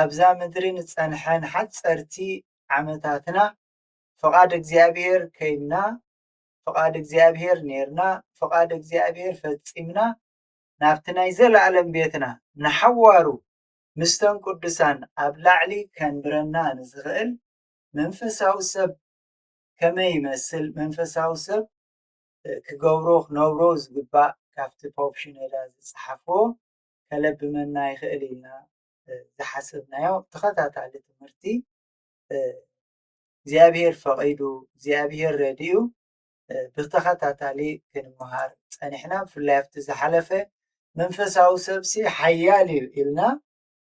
ኣብዛ ምድሪ ንጸንሐ ንሓጸርቲ ዓመታትና ፍቓድ እግዚኣብሔር ከይንና ፍቓድ እግዚኣብሔር ኔርና ፍቓድ እግዚኣብሔር ፈጺምና ናብቲ ናይ ዘለኣለም ቤትና ንሓዋሩ ምስተን ቅዱሳን ኣብ ላዕሊ ከንብረና ንዝኽእል መንፈሳዊ ሰብ ከመይ ይመስል መንፈሳዊ ሰብ ክገብሮ ክነብሮ ዝግባእ ካብቲ ፖፕ ሽነዳ ዝጸሓፎ ከለብመና ይኽእል ኢልና ዝሓሰብናዮ ተኸታታሊ ትምህርቲ እግዚኣብሔር ፈቒዱ እግዚኣብሔር ረድኡ ብተኸታታሊ ክንመሃር ፀኒሕና ብፍላይ ኣብቲ ዝሓለፈ መንፈሳዊ ሰብሲ ሓያል እዩ ኢልና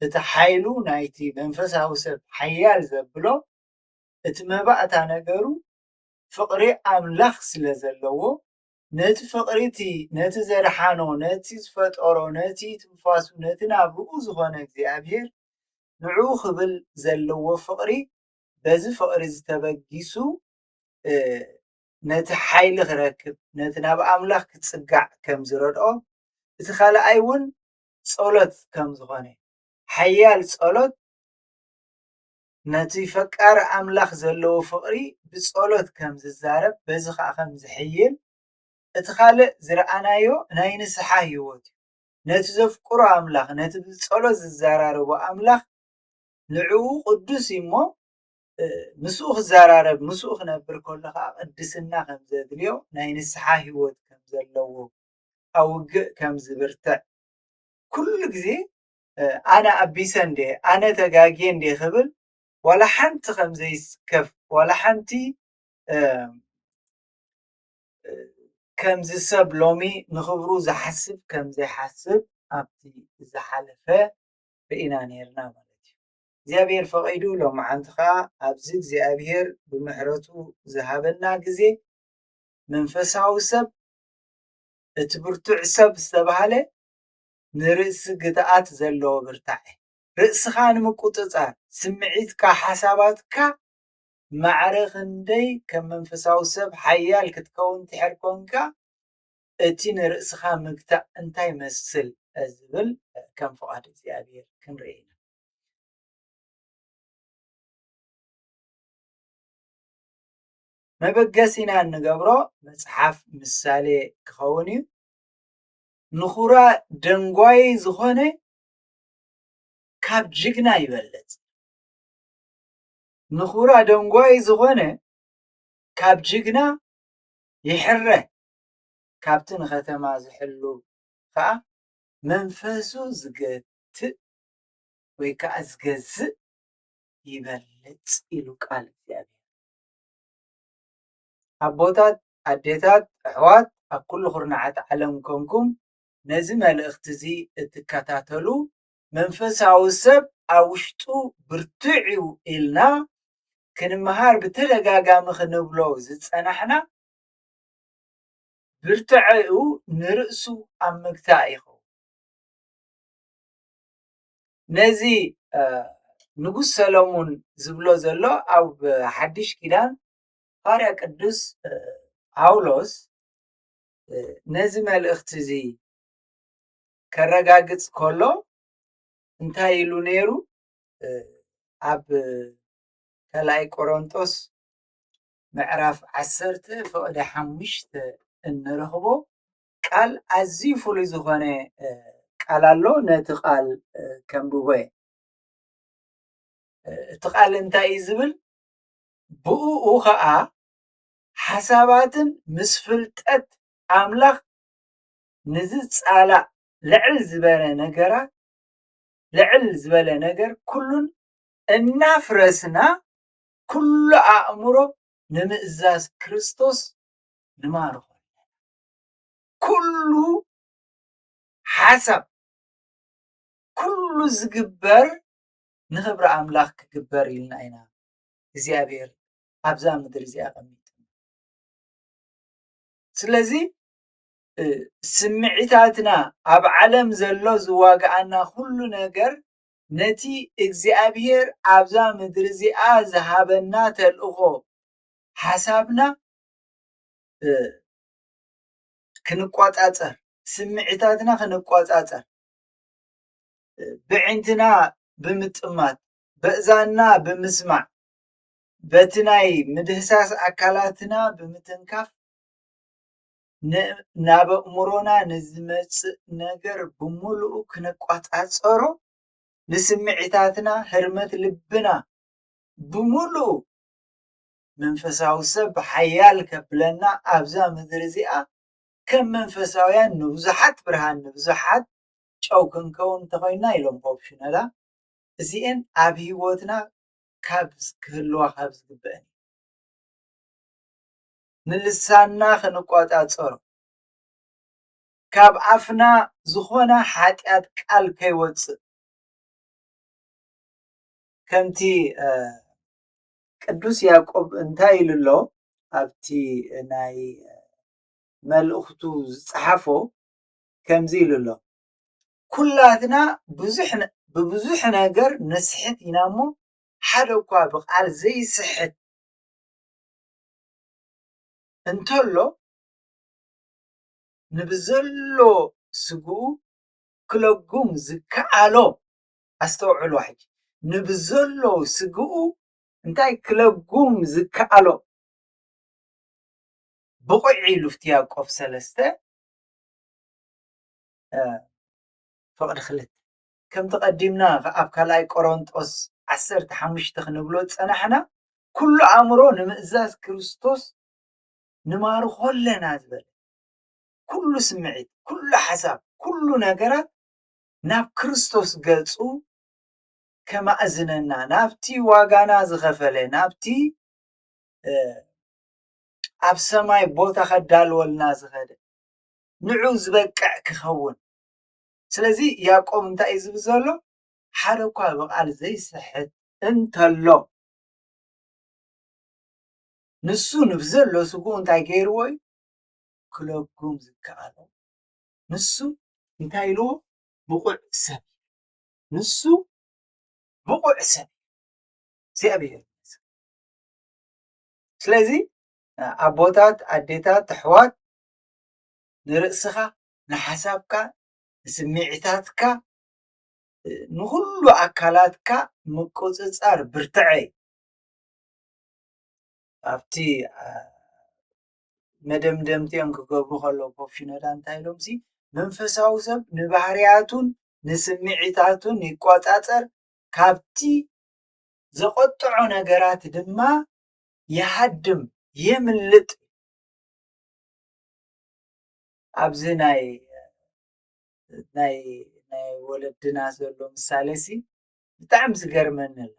እቲ ሓይሉ ናይቲ መንፈሳዊ ሰብ ሓያል ዘብሎ እቲ መባእታ ነገሩ ፍቕሪ ኣምላኽ ስለ ዘለዎ ነቲ ፍቕሪ እቲ ነቲ ዘድሓኖ ነቲ ዝፈጠሮ ነቲ ትንፋሱ ነቲ ናብርኡ ዝኾነ እግዚኣብሄር ንዕኡ ክብል ዘለዎ ፍቕሪ በዚ ፍቕሪ እዚ ተበጊሱ ነቲ ሓይሊ ክረክብ ነቲ ናብ ኣምላኽ ክጽጋዕ ከም ዝረድኦ እቲ ካልኣይ እውን ጸሎት ከም ዝኾነ ሓያል ጸሎት ነቲ ፈቃር ኣምላኽ ዘለዎ ፍቕሪ ብጸሎት ከም ዝዛረብ በዚ ኸኣ ከም ዝሕይል እቲ ካልእ ዝረኣናዮ ናይ ንስሓ ህይወት እዩ። ነቲ ዘፍቅሮ ኣምላኽ ነቲ ብጸሎት ዝዘራረቦ ኣምላኽ ንዕኡ ቅዱስ እዩ እሞ ምስኡ ክዘራረብ ምስኡ ክነብር ከሎ ከዓ ቅድስና ከም ዘድልዮ ናይ ንስሓ ህይወት ከም ዘለዎ ኣውግእ ከም ዝብርትዕ ኩሉ ግዜ ኣነ ኣቢሰ እንድየ ኣነ ተጋግየ እንድየ ክብል ዋላ ሓንቲ ከም ዘይስከፍ ዋላ ሓንቲ ከምዚ ሰብ ሎሚ ንኽብሩ ዝሓስብ ከም ዘይሓስብ ኣብቲ ዝሓለፈ ርኢና ነይርና ማለት እዩ እግዚኣብሔር ፈቒዱ ሎመዓንቲ ከዓ ኣብዚ እግዚኣብሔር ብምሕረቱ ዝሃበና ግዜ መንፈሳዊ ሰብ እቲ ብርቱዕ ሰብ ዝተባሃለ ንርእሲ ግትኣት ዘለዎ ብርታዐ፣ ርእስኻ ንምቁጽጻር፣ ስምዒትካ፣ ሓሳባትካ ማዕረ ክንደይ ከም መንፈሳዊ ሰብ ሓያል ክትከውን ትሕር ኮንካ፣ እቲ ንርእስኻ ምግታእ እንታይ ይመስል ዝብል ከም ፍቓድ እግዚኣብሔር ክንርኢ ኢና። መበገሲና እንገብሮ መጽሓፍ ምሳሌ ክኸውን እዩ። ንኩራ ደንጓየይ ዝኾነ ካብ ጅግና ይበልፅ ንኩራ ደንጓየይ ዝኾነ ካብ ጅግና ይሕረ ካብቲ ንከተማ ዝሕሉ ከዓ መንፈሱ ዝገትእ ወይ ከዓ ዝገዝእ ይበልፅ ኢሉ ቃል እግዚኣብሔር ኣቦታት ኣዴታት ኣሕዋት ኣብ ኩሉ ኩርናዓት ዓለም ኮንኩም ነዚ መልእኽቲ እዚ እትከታተሉ መንፈሳዊ ሰብ ኣብ ውሽጡ ብርቱዕ እዩ ኢልና ክንመሃር ብተደጋጋሚ ክንብሎ ዝጸናሕና ብርትዐኡ ንርእሱ ኣብ ምግታእ ይኸውን ነዚ ንጉስ ሰለሙን ዝብሎ ዘሎ ኣብ ሓድሽ ኪዳን ሃዋርያ ቅዱስ ጳውሎስ ነዚ መልእኽቲ እዚ ከረጋግጽ ከሎ እንታይ ኢሉ ነይሩ? ኣብ ካልኣይ ቆሮንጦስ ምዕራፍ ዓሰርተ ፍቕዲ ሓሙሽተ እንረኽቦ ቃል ኣዝዩ ፍሉይ ዝኾነ ቃል ኣሎ። ነቲ ቃል ከምብቦ እቲ ቃል እንታይ እዩ ዝብል? ብእኡ ኸኣ ሓሳባትን ምስ ፍልጠት ኣምላኽ ንዝጻላእ ልዕል ዝበረ ነገራት ልዕል ዝበለ ነገር ኩሉን እናፍረስና ኩሉ ኣእምሮ ንምእዛዝ ክርስቶስ ንማርኾ ኩሉ ሓሳብ ኩሉ ዝግበር ንኽብሪ ኣምላኽ ክግበር ኢልና ኢና እግዚኣብሔር ኣብዛ ምድሪ እዚ ኣቐሚጡ ስለዚ ስምዒታትና ኣብ ዓለም ዘሎ ዝዋግኣና ኩሉ ነገር ነቲ እግዚኣብሔር ኣብዛ ምድሪ እዚኣ ዝሃበና ተልእኾ ሓሳብና ክንቆፃፀር ስምዒታትና ክንቆፃፀር ብዕንትና ብምጥማት በእዛንና ብምስማዕ በቲ ናይ ምድህሳስ ኣካላትና ብምትንካፍ ናብ ኣእምሮና ንዝመፅእ ነገር ብምሉኡ ክንቆፃፀሮ ንስምዒታትና ህርመት ልብና ብምሉኡ መንፈሳዊ ሰብ ሓያል ከብለና ኣብዛ ምድሪ እዚኣ ከም መንፈሳውያን ንብዙሓት ብርሃን ንብዙሓት ጨው ክንከውን እንተኾይና ኢሎም ፖፕ ሽኖዳ እዚኤን ኣብ ሂወትና ካብ ክህልዋ ካብ ዝግበእን ንልሳና ክንቆጻጸሮ ካብ ኣፍና ዝኾነ ሓጢኣት ቃል ከይወጽእ ከምቲ ቅዱስ ያዕቆብ እንታይ ኢሉ ኣሎ ኣብቲ ናይ መልእኽቱ ዝጸሓፎ ከምዚ ኢሉ ኣሎ ኩላትና ብዙሕ ብብዙሕ ነገር ንስሕት ኢና እሞ ሓደ እኳ ብቃል ዘይስሕት እንተሎ ንብዘሎ ስግኡ ክለጉም ዝከኣሎ ኣስተውዕሉ ሕጂ ንብዘሎ ስግኡ እንታይ ክለጉም ዝከኣሎ ብቑዕ ኢሉ ፍትያ ቆፍ ሰለስተ ፍቕዲ ክልተ። ከምቲ ቀዲምና ኣብ ካልኣይ ቆሮንጦስ ዓሰርተ ሓሙሽተ ክንብሎ ዝጸናሕና ኩሉ ኣእምሮ ንምእዛዝ ክርስቶስ ንማርኾ ኣለና ዝበለ ኩሉ ስምዒት ኩሉ ሓሳብ ኩሉ ነገራት ናብ ክርስቶስ ገጹ ከማእዝነና ናብቲ ዋጋና ዝኸፈለ ናብቲ ኣብ ሰማይ ቦታ ከዳልወልና ዝኸደ ንዑ ዝበቅዕ ክኸውን ስለዚ ያቆብ እንታይ እዩ ዝብል ዘሎ ሓደ እኳ ብቓል ዘይስሕት እንተሎ ንሱ ንብዘሎ ስጉኡ እንታይ ገይርዎ እዩ ክለጉም ዝከኣሎ ንሱ እንታይ ኢልዎ ብቑዕ ሰብ ንሱ ብቑዕ ሰብ እግዚኣብሔር ስለዚ ኣቦታት ኣዴታት ኣሕዋት ንርእስኻ ንሓሳብካ ንስምዒታትካ ንኹሉ ኣካላትካ ምቁጽጻር ብርትዐ እዩ። ኣብቲ መደምደምቲኦም ክገብሩ ከለዉ ቦብ ሽኖዳ እንታይ ኢሎምሲ መንፈሳዊ ሰብ ንባህርያቱን ንስምዒታቱን ይቆጻጸር ካብቲ ዘቖጥዖ ነገራት ድማ ይሃድም የምልጥ ኣብዚ ናይ ናይ ናይ ወለድና ዘሎ ምሳሌ ሲ ብጣዕሚ ዝገርመኒ ኣሎ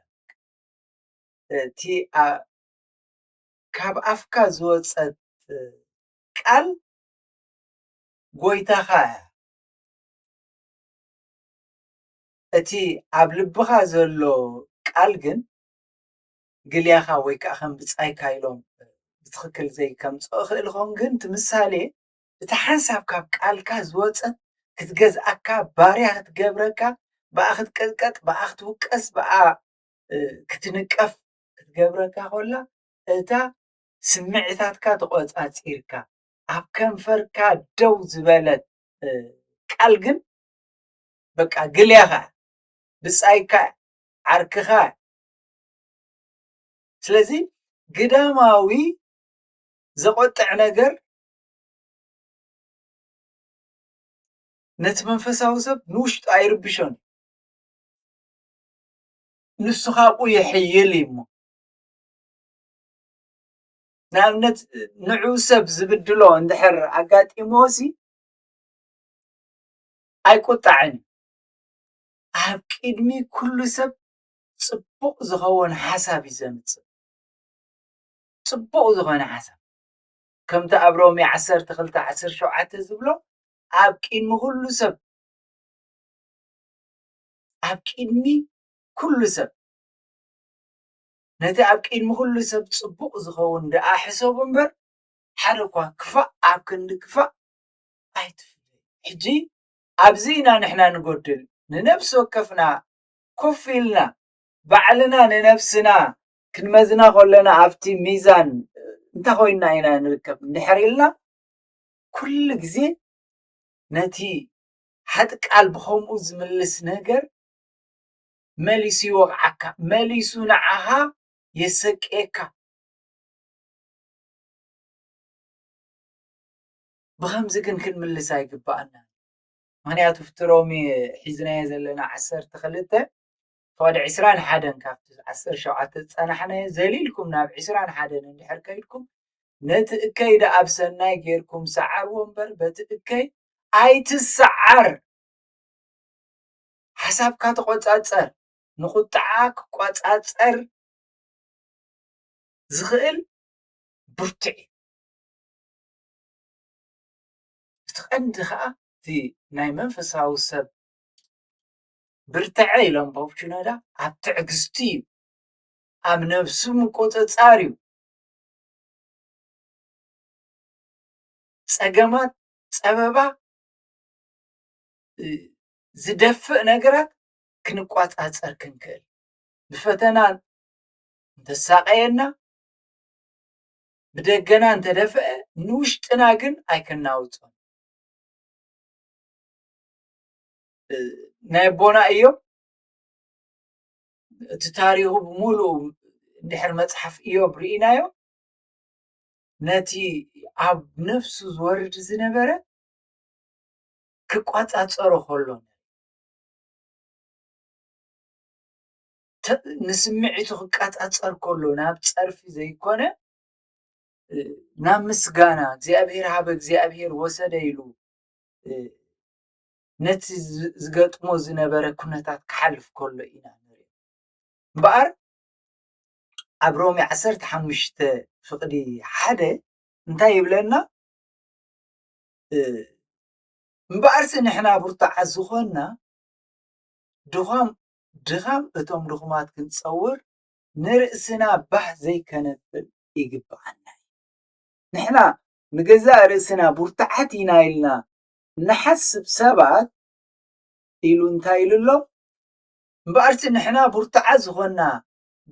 እቲ ካብ ኣፍካ ዝወፀት ቃል ጎይታኻ እያ እቲ ኣብ ልብኻ ዘሎ ቃል ግን ግልያኻ ወይ ከኣ ከም ብጻይካ ኢሎም ብትኽክል ዘይከምጽኦ ክእልኾም ግን ትምሳሌ እቲ ሓንሳብ ካብ ቃልካ ዝወጸት ክትገዝኣካ ባርያ ክትገብረካ ብኣ ክትቅጥቀጥ ብኣ ክትውቀስ ብኣ ክትንቀፍ ክትገብረካ ኮላ እታ ስምዒታትካ ተቖጻጺርካ ኣብ ከንፈርካ ደው ዝበለት ቃል ግን በቃ ግልያኻ ብጻይካ ዓርክኻ ስለዚ ግዳማዊ ዘቆጥዕ ነገር ነቲ መንፈሳዊ ሰብ ንውሽጡ ኣይርብሾን ንሱ ካብኡ ይሕይል እዩ እሞ ንኣብነት ንዑ ሰብ ዝብድሎ እንድሕር ኣጋጢሞሲ ኣይቁጣዕን ኣብ ቅድሚ ኩሉ ሰብ ጽቡቅ ዝከወን ሓሳብ እዩ ዘምጽእ ጽቡቅ ዝኮነ ሓሳብ ከምቲ ኣብ ሮሜ ዓሰርተ ክልተ ዓሰርተ ሸውዓተ ዝብሎ ኣብ ቅድሚ ኩሉ ሰብ ኣብ ቅድሚ ኩሉ ሰብ ነቲ ኣብ ቅድሚ ኩሉ ሰብ ጽቡቅ ዝከውን ደኣ ሕሰቡ እምበር ሓደ እኳ ክፋእ ኣብ ክንዲ ክፋእ ኣይትፍለዩ ሕጂ ኣብዚ ኢና ንሕና ንጎድል ንነብሲ ወከፍና ኩፍ ኢልና ባዕልና ንነብስና ክንመዝና ከሎና ኣብቲ ሚዛን እንታይ ኮይና ኢና ንርከብ እንድሕር ኢልና ኩሉ ግዜ ነቲ ሓጥ ቃል ብከምኡ ዝምልስ ነገር መሊሱ ይወቕዓካ መሊሱ ንዓኻ የሰቅየካ ብኸምዚ ግን ክንምልስ ኣይግባኣና ምኽንያቱ ኣብቲ ሎሚ ሒዝናዮ ዘለና ዓሰርተ ክልተ ክሳብ ዕስራን ሓደን ካብቲ ዓሰርተ ሸውዓተ ዝጸናሕናዮ ዘሊልኩም ናብ ዕስራን ሓደን እንድሕር ከይድኩም ነቲ እከይ ደኣ ኣብ ሰናይ ጌርኩም ሰዓርዎ እምበር በቲ እከይ ኣይትሰዓር ሓሳብካ ተቆጻጸር ንቁጥዓ ክቆጻጸር ዝኽእል ብርቱዕ እዩ እቲ ቀንዲ ከኣ እቲ ናይ መንፈሳዊ ሰብ ብርተዐ ኢሎም ባብ ሽኖዳ ኣብ ትዕግስቲ እዩ ኣብ ነብሱ ምቁጽጻር እዩ ጸገማት ጸበባ ዝደፍእ ነገራት ክንቋጻጸር ክንክእል ብፈተና እንተሳቀየና ብደገና እንተደፍአ ንውሽጥና ግን ኣይከናውጾን። ናይ ኣቦና እዮም እቲ ታሪኹ ብምሉኡ ድሕሪ መፅሓፍ እዮብ ርኢናዮ ነቲ ኣብ ነፍሱ ዝወርድ ዝነበረ ክቋፃፀሮ ከሎ ንስምዒቱ ክቃጻጸር ከሎ ናብ ጸርፊ ዘይኮነ ናብ ምስጋና እግዚኣብሔር ሃበ እግዚኣብሔር ወሰደ ኢሉ ነቲ ዝገጥሞ ዝነበረ ኩነታት ክሓልፍ ከሎ ኢና ንርኢ እምበኣር ኣብ ሮሜ ዓሰርተ ሓሙሽተ ፍቕዲ ሓደ እንታይ ይብለና እምበኣርሲ ንሕና ብርቱዓት ዝኾንና ድዃም ድኻም እቶም ድኹማት ክንጸውር ንርእስና ባህ ዘይከነብል ይግብኣና እዩ። ንሕና ንገዛእ ርእስና ቡርትዓት ኢና ኢልና እንሓስብ ሰባት ኢሉ እንታይ ኢሉ ኣሎ? እምበኣርሲ ንሕና ቡርትዓት ዝኾንና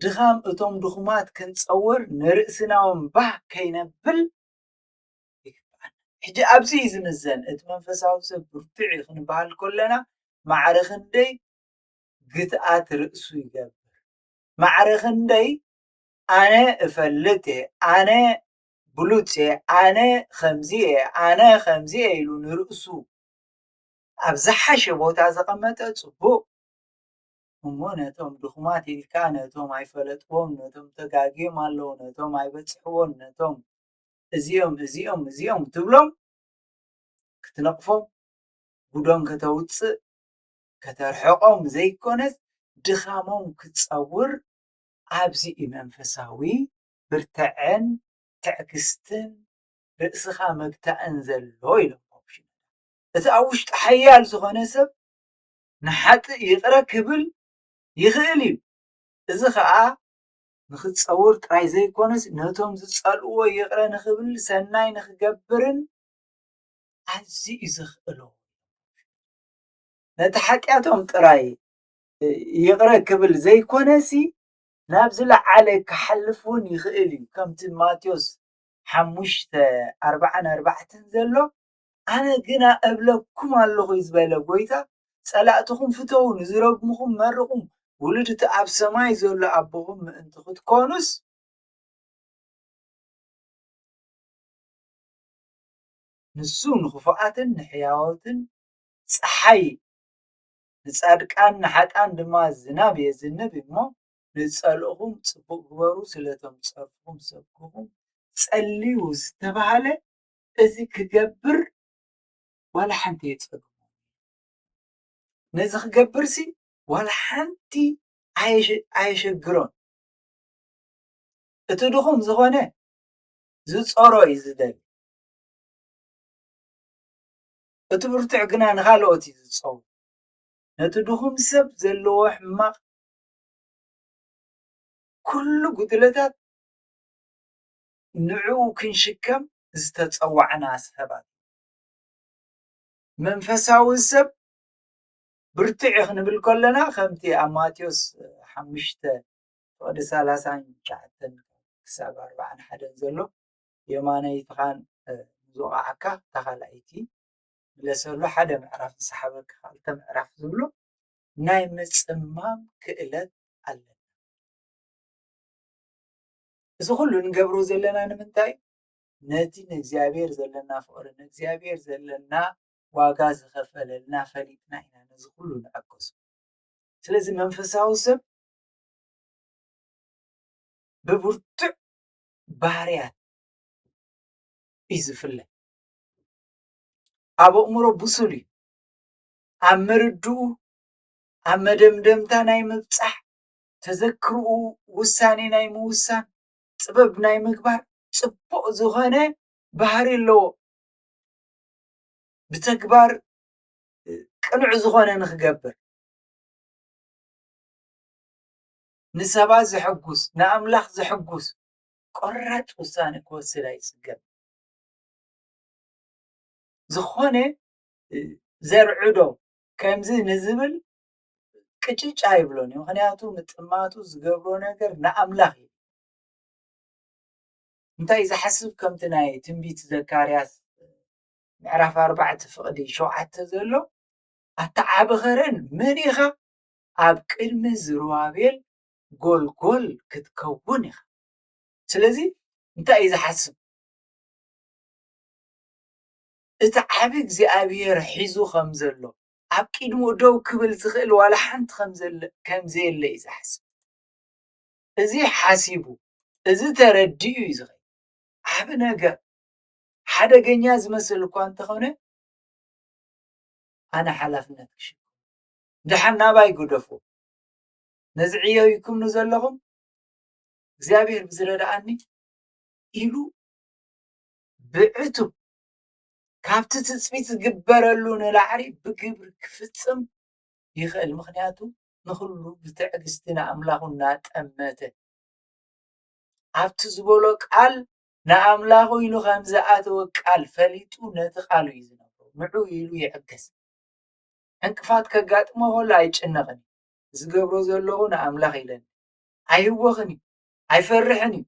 ድኻም እቶም ድኹማት ክንጸውር ንርእስና እውን ባህ ከይነብል ሕጂ ኣብዚ እዩ ዝምዘን እቲ መንፈሳዊ ሰብ ብርቱዕ እዩ ክንበሃል ከለና ማዕረ ክንደይ ግትኣት ርእሱ ይገብር ማዕረ ክንደይ ኣነ እፈልጥ እየ ኣነ ብሉጽ እየ ኣነ ከምዚ እየ ኣነ ከምዚ እየ ኢሉ ንርእሱ ኣብ ዝሓሸ ቦታ ዘቐመጠ ጽቡቕ እሞ ነቶም ድኹማት ኢልካ ነቶም ኣይፈለጥዎም ነቶም ተጋግዮም ኣለዉ ነቶም ኣይበጽሕዎን ነቶም እዚኦም እዚኦም እዚኦም ትብሎም ክትነቕፎም ጉዶም ከተውጽእ ከተርሕቆም ዘይኮነስ ድኻሞም ክትጸውር ኣብዚ እዩ መንፈሳዊ ብርተዐን ትዕግስትን ርእስኻ ምግታእን ዘሎ ኢሎም ፖፕ ሽኖዳ እቲ ኣብ ውሽጡ ሓያል ዝኾነ ሰብ ንሓጥእ ይቕረ ክብል ይኽእል እዩ እዚ ኸኣ ንኽትጸውር ጥራይ ዘይኮነስ ነቶም ዝጸልእዎ ይቕረ ንኽብል ሰናይ ንኽገብርን ኣዝዩ እዩ ዘኽእሎ ነቲ ሓጢኣቶም ጥራይ ይቕረ ክብል ዘይኮነሲ ናብ ዝለዓለ ክሓልፍ እውን ይኽእል እዩ ከምቲ ማቴዎስ ሓሙሽተ ኣርባዓን ኣርባዕትን ዘሎ ኣነ ግና እብለኩም ኣለኹ እዩ ዝበለ ጎይታ ጸላእትኹም ፍተው ንዝረግምኹም መርቑ ውሉድ እቲ ኣብ ሰማይ ዘሎ ኣቦኹም ምእንቲ ክትኮኑስ ንሱ ንኽፉኣትን ንሕያዎትን ጸሓይ ንጻድቃን ንሓጥኣን ድማ ዝናብ የዝንብ እሞ ንዝጸልእኹም ጽቡቕ ግበሩ ስለ እቶም ዝጸርፍኹም ዝሰድቡኹም ጸልዩ ዝተባህለ እዚ ክገብር ዋላ ሓንቲ የጸግሞ ነዚ ክገብርሲ ዋላ ሓንቲ ኣየሸግሮን እቲ ድኹም ዝኾነ ዝጸሮ እዩ ዝደሊ እቲ ብርቱዕ ግና ንኻልኦት እዩ ዝጸው። ነቲ ድኹም ሰብ ዘለዎ ሕማቕ ኩሉ ጉድለታት ንዕኡ ክንሽከም ዝተጸዋዕና ሰባት ኢና። መንፈሳዊ ሰብ ብርቱዕ እዩ ክንብል ከሎና ከምቲ ኣብ ማቴዎስ ሓሙሽተ ፍቕዲ ሰላሳን ትሽዓተን ክሳብ ኣርብዓን ሓደን ዘሎ የማነይትኻን ንዝወቕዓካ እታ ካልኣይቲ ምለሰሉ ሓደ ምዕራፍ ዝሰሓበካ ክልተ ምዕራፍ ዝብሉ ናይ ምጽማም ክእለት ኣለና። እዚ ኩሉ ንገብሮ ዘለና ንምንታይ ነቲ ንእግዚኣብሔር ዘለና ፍቅሪ ንእግዚኣብሔር ዘለና ዋጋ ዝኸፈለልና ፈሊጥና ኢና ነዚ ኩሉ ንዕገሱ ስለዚ መንፈሳዊ ሰብ ብብርቱዕ ባህርያት እዩ ዝፍለ። ኣብ ኣእምሮ ብሱል እዩ። ኣብ ምርድኡ ኣብ መደምደምታ ናይ ምብፃሕ ተዘክርኡ ውሳኔ ናይ ምውሳን ጥበብ ናይ ምግባር ፅቡቕ ዝኾነ ባህሪ ኣለዎ። ብተግባር ቅኑዕ ዝኾነ ንኽገብር ንሰባት ዘሕጉስ፣ ንኣምላኽ ዘሕጉስ ቆራጽ ውሳነ ክወስድ ኣይጽገምን። ዝኾነ ዘርዕዶ ከምዚ ንዝብል ቅጭጭ ኣይብሎን እዩ። ምክንያቱ ምጥማቱ ዝገብሮ ነገር ንኣምላኽ እዩ። እንታይ ዝሓስብ ከምቲ ናይ ትንቢት ዘካርያስ ምዕራፍ ኣርባዕተ ፍቕዲ ሸውዓተ ዘሎ ኣተዓባኸረን መን ኢኻ ኣብ ቅድሚ ዝሩባቤል ጎልጎል ክትከውን ኢኻ። ስለዚ እንታይ እዩ ዝሓስብ? እቲ ዓቢ እግዚኣብሄር ሒዙ ከም ዘሎ ኣብ ቅድሙ ደው ክብል ዝኽእል ዋላ ሓንቲ ከም ዘየለ እዩ ዝሓስብ። እዚ ሓሲቡ እዚ ተረዲኡ እዩ ዝኸ ዓቢ ነገር ሓደገኛ ዝመስል እኳ እንተኾነ ኣነ ሓላፍነት ክሽ ደሓን ናባይ ግደፉ ነዚ ዕዮ ኢልኩም ንዘለኹም እግዚኣብሔር ብዝረድኣኒ ኢሉ ብዕቱብ ካብቲ ትፅቢት ዝግበረሉ ንላዕሊ ብግብሪ ክፍፅም ይኽእል። ምክንያቱ ንኹሉ ብትዕግስቲ ንኣምላኹ እናጠመተ ኣብቲ ዝበሎ ቃል ንኣምላኹ ኢሉ ከም ዝኣተወ ቃል ፈሊጡ ነቲ ቃሉ እዩ ዝነብሮ ንዑ ኢሉ ይዕገስ። ዕንቅፋት ከጋጥሞ ከሎ ኣይጭነቕን እዩ። ዝገብሮ ዘለኹ ንኣምላኽ ኢለኒ እዩ። ኣይህወኽን እዩ። ኣይፈርሕን እዩ።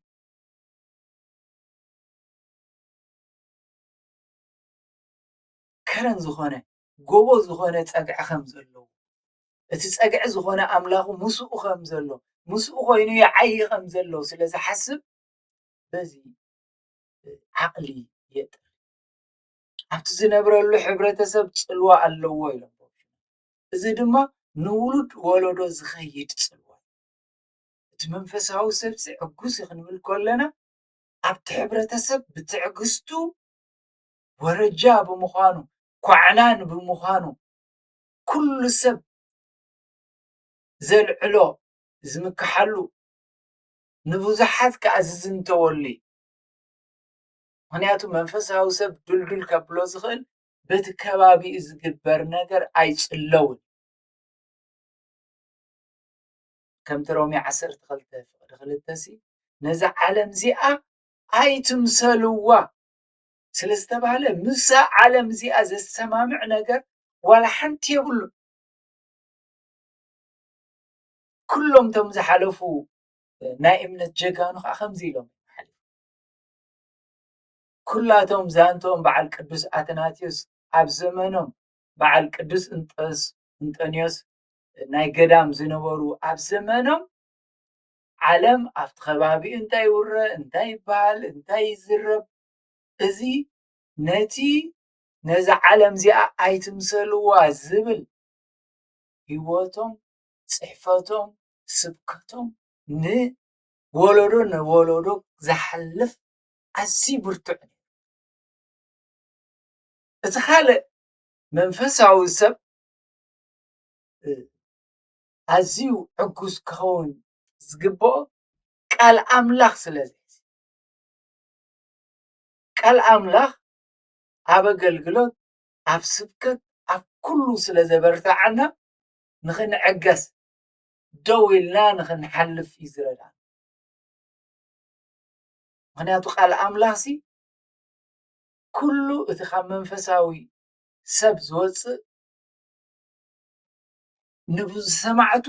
ከረን ዝኾነ ጎቦ ዝኾነ ጸግዒ ከም ዘለዎ እቲ ጸግዒ ዝኾነ ኣምላኹ ምስኡ ከም ዘሎ ምስኡ ኮይኑ ይዓዪ ከም ዘሎ ስለ ዝሓስብ በዚ ዓቕሊ የጥር ኣብቲ ዝነብረሉ ሕብረተሰብ ፅልዋ ኣለዎ ኢሎም እዚ ድማ ንውሉድ ወለዶ ዝኸይድ ፅልዋ እቲ መንፈሳዊ ሰብሲ ዕጉስ ክንብል ከለና ኣብቲ ሕብረተሰብ ብትዕግስቱ ወረጃ ብምዃኑ ኳዕላን ብምዃኑ ኩሉ ሰብ ዘልዕሎ ዝምክሓሉ ንብዙሓት ከዓ ዝዝንተወሉ እዩ ምክንያቱ መንፈሳዊ ሰብ ድልዱል ከብሎ ዝኽእል በቲ ከባቢኡ ዝግበር ነገር ኣይጽለውን ከምቲ ሮሜ ዓሰርተ ክልተ ፍቅዲ ክልተ ሲ ነዛ ዓለም እዚኣ ኣይትምሰልዋ ስለ ዝተባህለ ምሳ ዓለም እዚኣ ዘሰማምዕ ነገር ዋላ ሓንቲ የብሉ ኩሎም ቶም ዝሓለፉ ናይ እምነት ጀጋኑ ከዓ ከምዚ ኢሎም ኩላቶም ዛንትኦም በዓል ቅዱስ ኣትናቴዎስ ኣብ ዘመኖም በዓል ቅዱስ እንጦስ እንጦንዮስ ናይ ገዳም ዝነበሩ ኣብ ዘመኖም ዓለም ኣብቲ ከባቢ እንታይ ይውረ እንታይ ይበሃል እንታይ ይዝረብ እዚ ነቲ ነዛ ዓለም እዚኣ ኣይትምሰልዋ ዝብል ህይወቶም፣ ፅሕፈቶም፣ ስብከቶም ን ወለዶ ንወለዶ ዝሓልፍ ኣዝዩ ብርቱዕ እዩ። እቲ ካልእ መንፈሳዊ ሰብ ኣዝዩ ዕጉስ ክኸውን ዝግብኦ ቃል ኣምላኽ ስለ ዝሕዝ ቃል ኣምላኽ ኣብ ኣገልግሎት ኣብ ስብከት ኣብ ኩሉ ስለ ዘበርትዓና ንኽንዕገስ ደው ኢልና ንኽንሓልፍ እዩ ዝረዳን ምክንያቱ ቃል ኣምላኽ ሲ ኩሉ እቲ ካብ መንፈሳዊ ሰብ ዝወፅእ ንብዝሰማዕቱ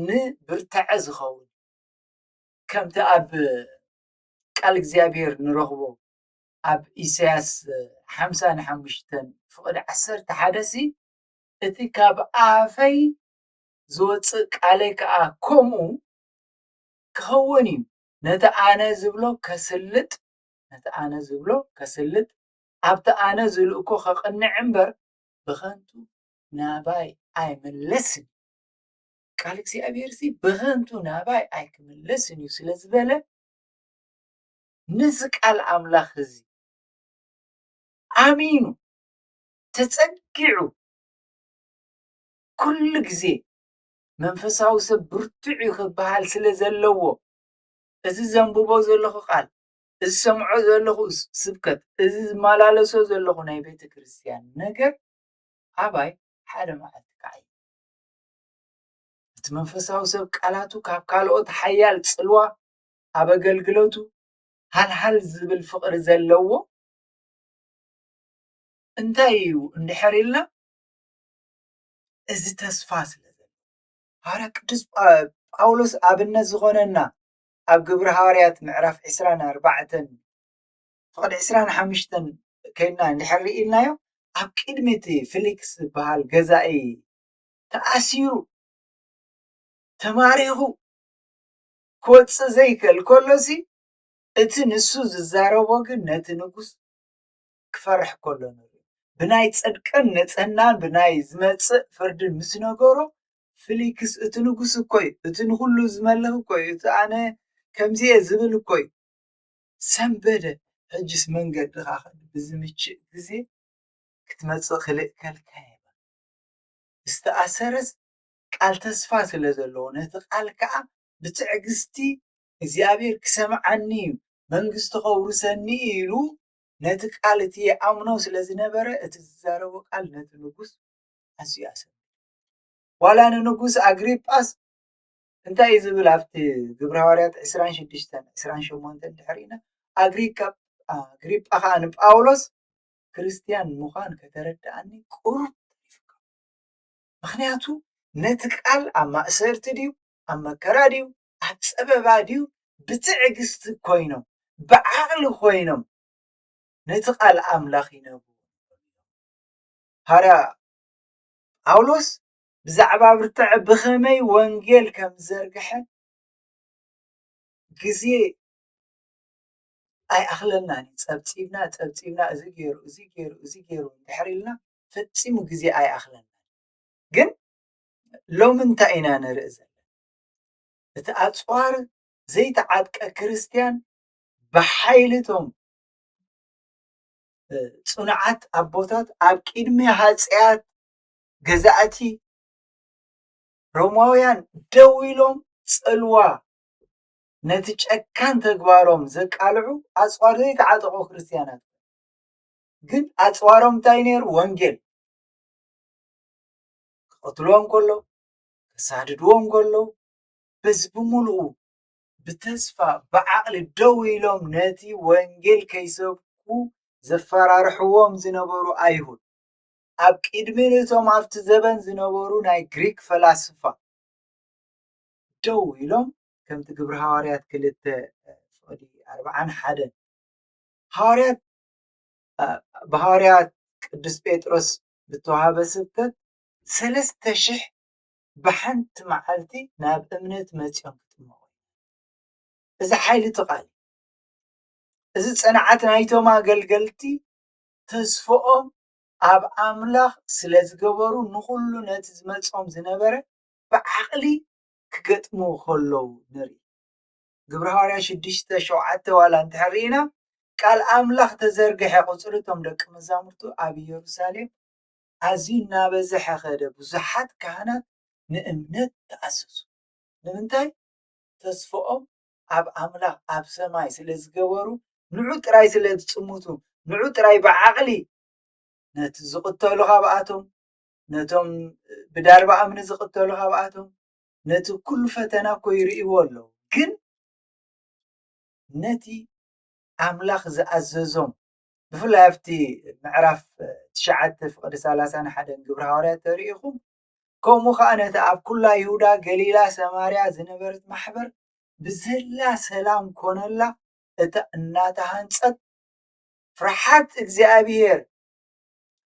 ንብርትዐ ዝኸውን ከምቲ ኣብ ቃል እግዚኣብሔር ንረኽቦ ኣብ ኢሳያስ ሓምሳ ንሓሙሽተን ፍቕዲ ዓሰርተ ሓደ ሲ እቲ ኻብ ኣፈይ ዚወጽእ ቃለይ ከኣ ከምኡ ኪኸውን እዩ፣ ነቲ ኣነ ዝብሎ ኼስልጥ፣ ነቲ ኣነ ዝብሎ ኼስልጥ፣ ኣብቲ ኣነ ዝልእኮ ኼቕንዕ እምበር፣ ብኸንቱ ናባይ ኣይምለስን እዩ። ቃል እግዚኣብሄርሲ ብኸንቱ ናባይ ኣይኪምለስን እዩ ስለ ዝበለ፣ ነዚ ቃል ኣምላኽ እዚ ኣሚኑ፣ ተጸጊዑ ኩሉ ግዜ መንፈሳዊ ሰብ ብርቱዕ እዩ ክበሃል ስለ ዘለዎ እዚ ዘንብቦ ዘለኹ ቃል እዚ ዝሰምዖ ዘለኹ ስብከት እዚ ዝመላለሶ ዘለኹ ናይ ቤተ ክርስቲያን ነገር ኣባይ ሓደ መዓልቲ ክዓይ እቲ መንፈሳዊ ሰብ ቃላቱ ካብ ካልኦት ሓያል ጽልዋ ኣብ ኣገልግሎቱ ሃልሃል ዝብል ፍቕሪ ዘለዎ እንታይ እዩ እንድሕር ኢልና እዚ ተስፋ ስለ ዘሎ ሃዋርያ ቅዱስ ጳውሎስ ኣብነት ዝኾነና ኣብ ግብሪ ሃዋርያት ምዕራፍ ዕስራን ኣርባዕተን ፍቕዲ ዕስራን ሓምሽተን ከይድና እንድሕር ኢልናዮ ኣብ ቅድሚ እቲ ፊሊክስ ዝበሃል ገዛኢ ተኣሲሩ ተማሪኹ ክወፅእ ዘይክእል ከሎሲ እቲ ንሱ ዝዛረቦ ግን ነቲ ንጉስ ክፈርሕ ከሎ ንርኢ። ብናይ ጽድቅን ንጽህናን ብናይ ዝመጽእ ፍርድን ምስ ነገሮ፣ ፍሊክስ እቲ ንጉስ እኮ እዩ፣ እቲ ንኹሉ ዝመልኽ እኮ እዩ፣ እቲ ኣነ ከምዚ እየ ዝብል እኮ እዩ፣ ሰንበደ፣ ሕጅስ መንገድኻ ከ ብዝምችእ ግዜ ክትመጽእ ክልእከልካ እየ፣ ዝተኣሰረስ ቃል ተስፋ ስለ ዘለዎ፣ ነቲ ቃል ከኣ ብትዕግስቲ እግዚኣብሄር ክሰምዓኒ እዩ፣ መንግስቱ ከውርሰኒ እዩ ኢሉ ነቲ ቃል እቲ ይኣምኖ ስለ ዝነበረ እቲ ዝዛረቦ ቃል ነቲ ንጉስ ኣዝዩ ኣሰንበዶ። ዋላ ንንጉስ ኣግሪጳስ እንታይ እዩ ዝብል ኣብቲ ግብረ ሃዋርያት ዕስራን ሽዱሽተን ዕስራን ሸሞንተን ድሕሪ ኢና ኣግሪጳ ከዓ ንጳውሎስ ክርስትያን ምዃን ከተረድኣኒ ቁሩብ ተሪፉካ ምክንያቱ ነቲ ቃል ኣብ ማእሰርቲ ድዩ ኣብ መከራ ድዩ ኣብ ፀበባ ድዩ ብትዕግስቲ ኮይኖም ብዓቕሊ ኮይኖም ነቲ ቃል ኣምላኽ ይነብሩ ሃዋርያ ጳውሎስ ብዛዕባ ብርትዐ ብኸመይ ወንጌል ከም ዝዘርግሐ ግዜ ኣይኣኽለናን እዩ ፀብፂብና ፀብፂብና እዚ ገይሩ እዚ ገይሩ እዚ ገይሩ እንድሕር ኢልና ፈፂሙ ግዜ ኣይኣኽለናን ግን ሎሚ እንታይ ኢና ንርኢ ዘለና እቲ ኣጽዋር ዘይተዓጥቀ ክርስትያን ብሓይሊ እቶም ጽኑዓት ኣቦታት ኣብ ቅድሚ ሃጸያት ገዛእቲ ሮማውያን ደው ኢሎም ጽልዋ ነቲ ጨካን ተግባሮም ዘቃልዑ ኣጽዋር ዘይተዓጠቑ ክርስትያናት ግን ኣጽዋሮም እንታይ ነይሩ ወንጌል ክቐትልዎም ከሎ ከሳድድዎ እንከለዉ በዚ ብምሉኡ ብተስፋ ብዓቕሊ ደው ኢሎም ነቲ ወንጌል ከይሰብኩ ዘፈራርሕዎም ዝነበሩ ኣይሁድ ኣብ ቅድሚ እቶም ኣብቲ ዘበን ዝነበሩ ናይ ግሪክ ፈላስፋ ደው ኢሎም ከምቲ ግብሪ ሃዋርያት ክልተ ፍቕዲ ኣርብዓን ሓደን ሃዋርያት ብሃዋርያት ቅዱስ ጴጥሮስ ዝተዋሃበ ስብከት ሰለስተ ሽሕ ብሓንቲ መዓልቲ ናብ እምነት መጺኦም ክጥመቑ እዚ ሓይሊ እቲ ቃል እዚ ጽንዓት ናይቶም ኣገልገልቲ ተስፍኦም ኣብ ኣምላኽ ስለ ዝገበሩ ንዅሉ ነቲ ዝመጾም ዝነበረ ብዓቕሊ ክገጥሙ ከለዉ ንርኢ ግብሪ ሃዋርያ ሽዱሽተ ሸውዓተ ዋላ እንተሕር ኢና ቃል ኣምላኽ ተዘርግሐ ቁጽሪ እቶም ደቂ መዛሙርቱ ኣብ ኢየሩሳሌም ኣዝዩ እናበዝሐ ኸደ፣ ብዙሓት ካህናት ንእምነት ተኣዘዙ። ንምንታይ? ተስፋኦም ኣብ ኣምላኽ ኣብ ሰማይ ስለ ዝገበሩ፣ ንዑ ጥራይ ስለ ዝጽምቱ፣ ንዑ ጥራይ ብዓቕሊ ነቲ ዝቕተሉ ካብኣቶም፣ ነቶም ብዳርባ እምኒ ዝቕተሉ ካብኣቶም፣ ነቲ ኩሉ ፈተና እኮ ይርእይዎ ኣለዉ ግን ነቲ ኣምላኽ ዝኣዘዞም ብፍላይ ኣብቲ ምዕራፍ ትሽዓተ ፍቕዲ ሰላሳን ሓደን ግብሪ ሃዋርያት ተርኢኹም ከምኡ ከዓ ነቲ ኣብ ኩላ ይሁዳ ገሊላ ሰማርያ ዝነበረት ማሕበር ብዘላ ሰላም ኮነላ እታ እናተሃንፀት ፍርሓት እግዚኣብሔር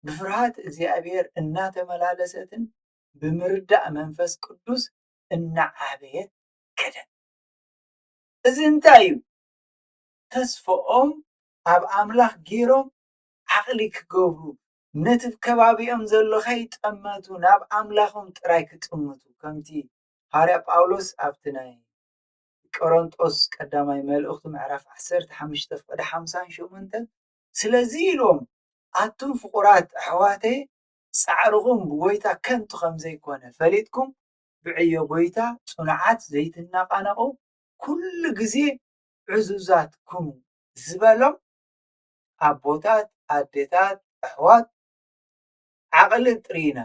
ብፍርሃት እግዚኣብሔር እናተመላለሰትን ብምርዳእ መንፈስ ቅዱስ እናዓበየት ከደት እዚ እንታይ እዩ ተስፈኦም ኣብ ኣምላኽ ጌሮም ዓቕሊ ክገብሩ ነቲ ከባቢኦም ዘሎ ከይጠመቱ ናብ ኣምላኾም ጥራይ ክጥምቱ ከምቲ ሃዋርያ ጳውሎስ ኣብቲ ናይ ቆሮንጦስ ቀዳማይ መልእኽቱ ምዕራፍ 15 ፍቕዲ 58 ስለዚ ኢሎም ኣቱም ፍቑራት ኣሕዋተይ ጻዕርኹም ብጐይታ ከንቱ ከም ዘይኮነ ፈሊጥኩም ብዕዮ ጐይታ ጽኑዓት ዘይትናቓነቑ ኩሉ ግዜ ዕዙዛት ኩኑ ዝበሎም ኣቦታት ኣዴታት ኣሕዋት ዓቕሊ ጥርይና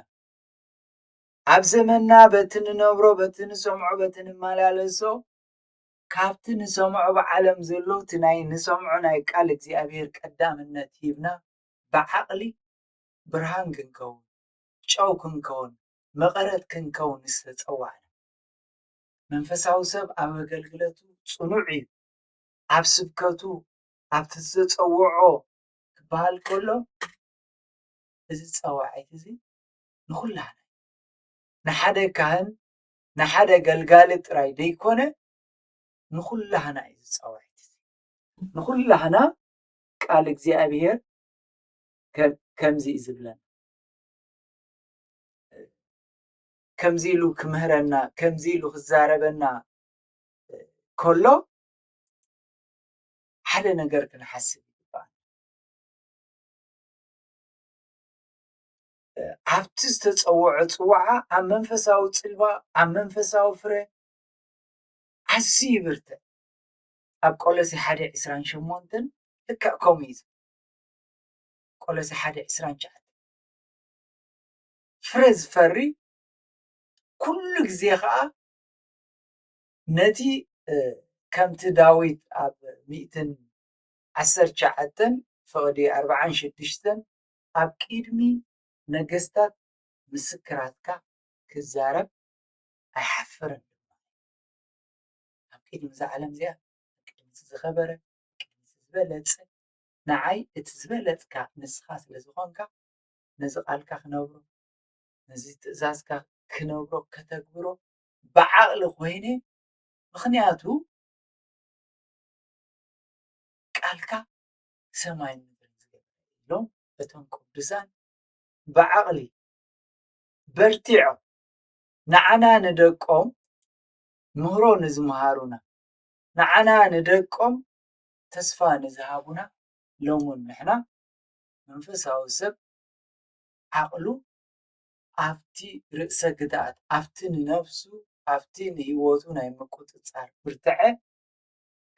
ኣብ ዘመንና በቲ ንነብሮ በቲ ንሰምዖ በቲ ንመላለሶ ካብቲ ንሰምዖ ብዓለም ዘሎ እቲ ናይ ንሰምዖ ናይ ቃል እግዚኣብሔር ቀዳምነት ሂብና ብዓቕሊ ብርሃን ክንከውን ጨው ክንከውን መቐረት ክንከውን ዝተጸዋዕና መንፈሳዊ ሰብ ኣብ ኣገልግለቱ ጽኑዕ እዩ ኣብ ስብከቱ ኣብቲ ዘጸውዖ ክበሃል ከሎ እዚ ጸዋዒት እዚ ንኹላህና እዩ። ንሓደ ካህን ንሓደ ገልጋሊ ጥራይ ደይኮነ ንኹላህና እዩ እዚ ጸዋዒት እዚ። ንኹላህና ቃል እግዚኣብሔር ከምዚ እዩ ዝብለና ከምዚ ኢሉ ክምህረና ከምዚ ኢሉ ክዛረበና ከሎ ሓደ ነገር ክንሓስብ ይግባእ። ኣብቲ ዝተፀወዐ ፅዋዓ ኣብ መንፈሳዊ ፅልዋ ኣብ መንፈሳዊ ፍረ ኣዝዩ ይብርትዕ። ኣብ ቆሎሴ ሓደ ዕስራን ሸሞንተን ልክዕ ከምኡ እዩ ቆሎሴ ሓደ ዕስራን ትሽዓተ ፍረ ዝፈሪ ኩሉ ግዜ ከዓ ነቲ ከምቲ ዳዊት ኣብ ሚእትን ዓሰርተ ትሽዓተን ፍቕዲ ኣርብዓን ሽዱሽተን ኣብ ቂድሚ ነገስታት ምስክራትካ ክዛረብ ኣይሓፍርን ድማ ኣብ ቂድሚ እዛ ዓለም እዚኣ ኣብ ቂድሚ እቲ ዝኸበረ ኣብ ቂድሚ እቲ ዝበለጸ ንዓይ እቲ ዝበለጽካ ንስኻ ስለ ዝኾንካ ነዚ ቃልካ ክነብሮ ነዚ ትእዛዝካ ክነብሮ ከተግብሮ ብዓቕሊ ኮይነ ምኽንያቱ ቃልካ ሰማይ ኢሎም እቶም ቅዱሳን ብዓቕሊ በርቲዖም ንዓና ንደቆም ምህሮ ንዝመሃሩና ንዓና ንደቆም ተስፋ ንዝሃቡና ሎሚ ንሕና መንፈሳዊ ሰብ ዓቕሉ ኣብቲ ርእሰ ግትኣት፣ ኣብቲ ንነፍሱ፣ ኣብቲ ንህይወቱ ናይ ምቁጽጻር ብርታዐ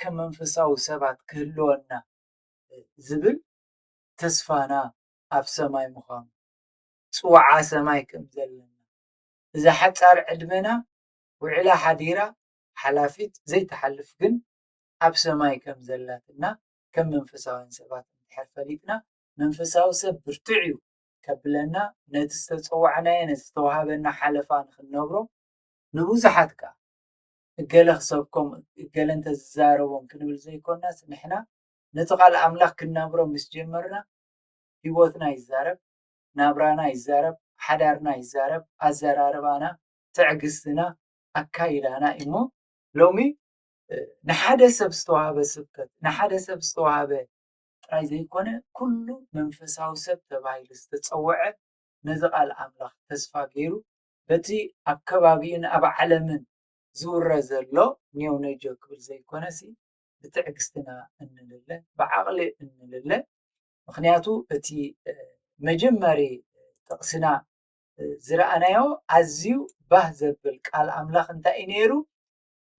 ከም መንፈሳዊ ሰባት ክህልወና ዝብል ተስፋና ኣብ ሰማይ ምዃኑ፣ ጽውዓ ሰማይ ከም ዘለና፣ እዛ ሓጻር ዕድመና ውዒላ ሓዲራ ሓላፊት ዘይትሓልፍ ግን ኣብ ሰማይ ከም ዘላትና ከም መንፈሳውያን ሰባት እንድሕር ፈሊጥና መንፈሳዊ ሰብ ብርቱዕ'ዩ ከብለና ነቲ ዝተጸዋዕናዮ ነቲ ዝተዋህበና ሓለፋ ንኽንነብሮ ንብዙሓት ከኣ እገለ ክሰብኮም እገለ እንተዝዛረቦም ክንብል ዘይኮናስ ንሕና ነቲ ቃል ኣምላኽ ክንነብሮ ምስ ጀመርና ህይወትና ይዛረብ ናብራና ይዛረብ ሓዳርና ይዛረብ ኣዘራርባና ትዕግስትና ኣካይዳና እሞ ሎሚ ንሓደ ሰብ ዝተዋህበ ስብከት ንሓደ ሰብ ዝተዋህበ ጥራይ ዘይኮነ ኩሉ መንፈሳዊ ሰብ ተባሂሉ ዝተጸውዐ ነዚ ቃል ኣምላኽ ተስፋ ገይሩ በቲ ኣብ ከባቢኡን ኣብ ዓለምን ዝውረ ዘሎ ኔውነጆ ክብል ዘይኮነሲ ብትዕግስትና እንልለ ብዓቕሊ እንልለ ምክንያቱ እቲ መጀመሪ ጥቕስና ዝረኣናዮ ኣዝዩ ባህ ዘብል ቃል ኣምላኽ እንታይ እዩ ነይሩ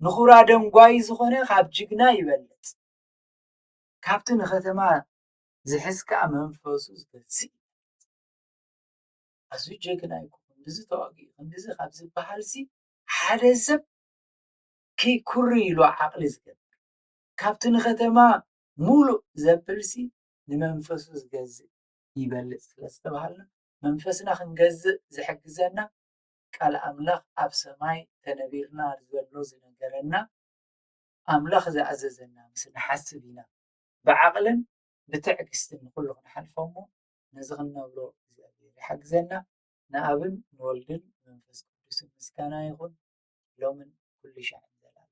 ንኹራ ደንጓይ ዝኾነ ካብ ጅግና ይበልጽ ካብቲ ንከተማ ዝሕዝ ከኣ መንፈሱ ዝገዝእ ይበልጽ። ኣዝዩ ጀግና ኢዩ ክንድዚ ተዋጊኡ ክንድዚ ካብ ዝበሃልሲ ሓደ ሰብ ክይ ኩርይ ኢሉ ዓቕሊ ዝገብር ካብቲ ንከተማ ሙሉእ ዘብልሲ ንመንፈሱ ዝገዝእ ይበልጽ ስለ ዝተባሃልና መንፈስና ክንገዝእ ዝሕግዘና ቃል ኣምላኽ ኣብ ሰማይ ተነቢርና ዘሎ ዝነገረና ኣምላኽ ዝኣዘዘና ምስ ንሓስብ ኢና ብዓቕልን ብትዕግስትን ንኹሉ ክንሓልፎ እሞ ነዚ ክንነብሮ እግዚኣብሔር ይሓግዘና ንኣብን ንወልድን መንፈስ ቅዱስን ምስጋና ይኹን ሎምን ኩሉ ሻዕን ዘላለም